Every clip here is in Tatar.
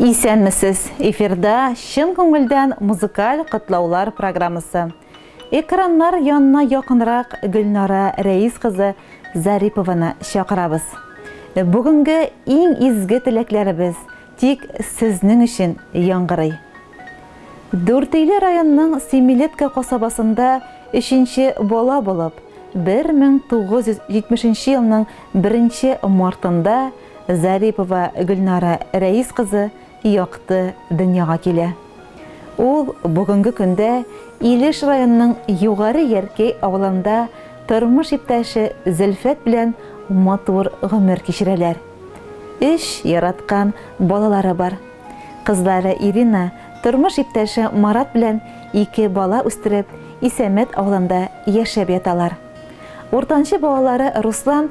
Исәнмесез! Эфирда чын күңелдән музыкаль котлаулар программасы. Экраннар янына якынрак Гөлнара Рәис кызы Зарипованы чакырабыз. Бүгенге иң изге теләкләребез тик сезнең өчен яңгырый. Дүртөйле районының Семилетка касабасында өченче бала булып, 1970 елның беренче мартында Зарипова Гөлнара Рәис кызы якты дөньяга килә. Ул бүгенге көндә Илеш районының Югары Яркәй авылында тормыш иптәше Зөлфәт белән матур гомер кичерәләр. Өч яраткан балалары бар. Кызлары Ирина тормыш иптәше Марат белән ике бала үстереп, Исәмәт авылында яшәп яталар. Уртанчы балалары Руслан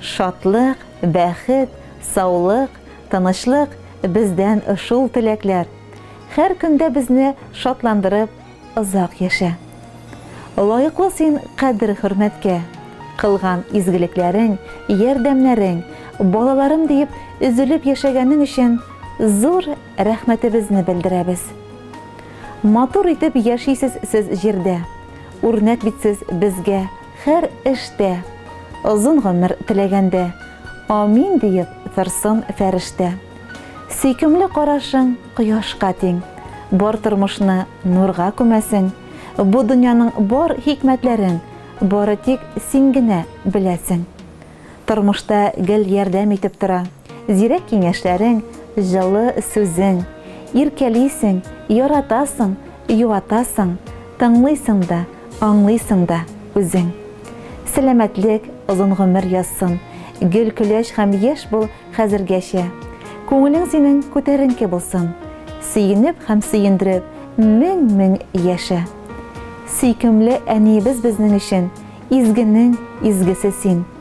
Шатлык, бәхет, саулык, тынычлык бездән шул теләкләр. Хәр көндә безне шатландырып, озак яшә. Лаеклы син кадер-хөрмәткә. Кылган изгелекләрең, ярдәмнәрең, балаларым диеп өзелеп яшәгәнең өчен зур рәхмәтебезне белдерәбез. Матур итеп яшисез сез җирдә. Үрнәк бит сез безгә. Хәр эштә. Озын гомер теләгәндә. Амин диеп торсын фәрештә. Сөйкемле карашың кояшка тиң. Бар тормышны нурга күмәсең. Бу дөньяның бар хикмәтләрен Бары тик син генә беләсең. Тормышта гел ярдәм итеп тора. Зирәк киңәшләрең, җылы сүзең. Иркәлисең, яратасың, юатасың, тыңлыйсың да, аңлыйсың да үзең. Сәламәтлек, озын гомер язсын, гөл көләч һәм яшь бул хәзергәчә. Күңелең синең күтәренке булсын, сөенеп һәм сөендереп мең-мең яшә. Сөйкемле әниебез безнең өчен изгенең изгесе син.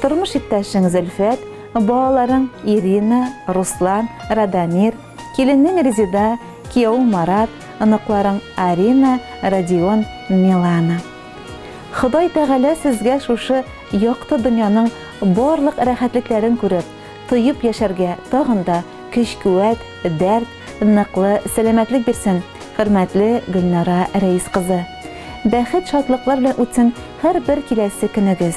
Тормыш иптәшең Зөлфәт, балаларың Ирина, Руслан, Радомир, киленең Резеда, киявең Марат, оныкларың Арина, Родион, Милана. Ходай Тәгалә сезгә шушы якты дөньяның барлык рәхәтлекләрен күреп, тоеп яшәргә тагын да көч-куәт, дәрт, ныклы сәламәтлек бирсен, хөрмәтле Гөлнара Рәис кызы! Бәхет-шатлыклар белән үтсен һәрбер киләсе көнегез!